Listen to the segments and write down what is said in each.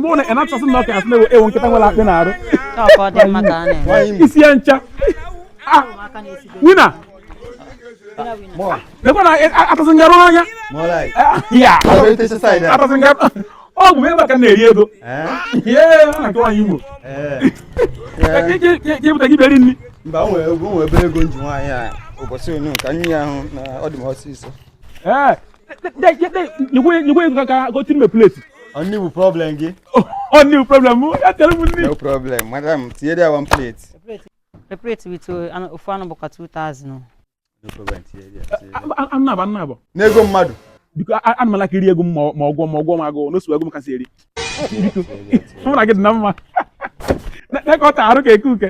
mụ na ịnachọsị na ọka asị na ewu nkịta nwere akpị na-arụ isi ya ncha ah, Winner lekwa na atụsị ngarụ n'anya atụsị ngarụ ọ bụ ebe ka na-eri ego na-achọ nwaanyị igbo jepụta gị beri nri mba o nwere obere ego m ji nwaanyị a ụbọchị onu ka nri ahụ na ọ dị m ọsịsọ nyekwe ego ka gotu ime plate ọ nni bụ problem gị ọ nni bụ problem mụ ya tere m nri no problem madam tinyere ya one plate a plate with uh, ofu anụ bụkwa 2000 no problem tinyere ya annaba annaba n'ego mmadụ biko ana m a-like iri ego m ma ọgwọ ma ọgwọ m agụụ n'osu ego m kasị eri biko mụ na gị dị na mma na-ekọta arụ ka eke uke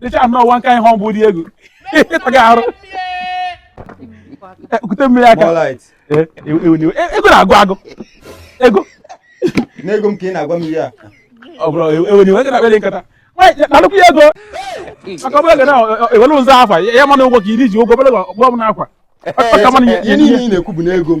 dịcha anọ one kind humble dị egwu ịtaga arụ kute mmiri aka ego na-agụ agụ ego n'ego m ka ị na-agwa m ihe a ọ bụrụ ewere iwe na obele nkata nalụkwu ya ego maka ọbụla ga na-ewere ụzọ afa ya mana ụgwọ ka iri ji ụgwọ bụla ọgbọ m na akwa ihe niile ị na-ekwu bụ n'ego m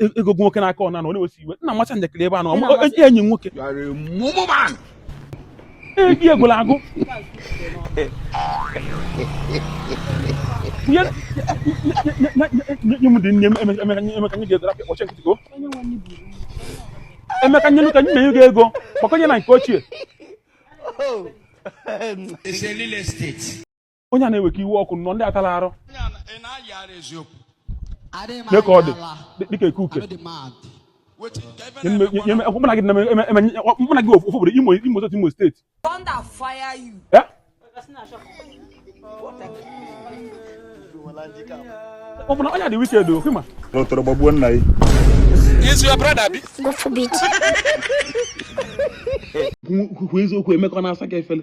e, ego gị nwoke n'aka ọna na ọ na-ewesi iwe na-amacha njakịrị ebe a na enyi nwoke egi egwula agụ nye m dị nne Emeka nye ga-egoro apịa kpọchi nkịtị go Emeka nye ka nne ya ga ego gbakọnye na nke ochie oh. onye a na-eweka iwe ọkụ nọ ndị atala arụ mee ka ọ dị dịka eke uke mụna gị mụna gị ofu obodo Imo Imo State Imo State ọ bụ na onye dị wicked ọkwa ị ma n'ụtọrọ gbagbuo nna gị Is your brother abi? God forbid. Kwu eziokwu Emeka na-asaka efele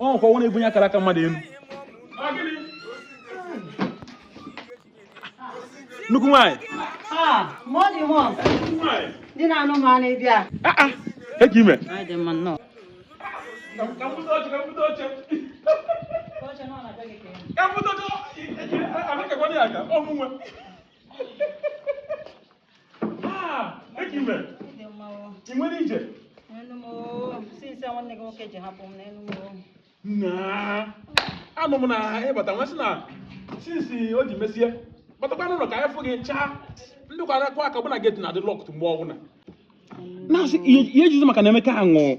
ọ nkwa ọ na-ebunye akara aka mmadụ elu nnukwu nwaanyị dị na anụ m na ị bịa eke ime ka Ah, eke ime. Adị m mma nụ. Ị nwere ije? N'elu m oo. Since a nwanne gị nwoke ji hapụ m n'elu m oo. Naa. Anụ m na ịbata m wee sị na since o ji mesie batakwa n'ụlọ ka anyị fụ gị chaa ndị kwara akụ aka bụ na gate na-adị locked mgbe ọbụla. Na-asị ihe ihe ejizi maka na Emeka ahụ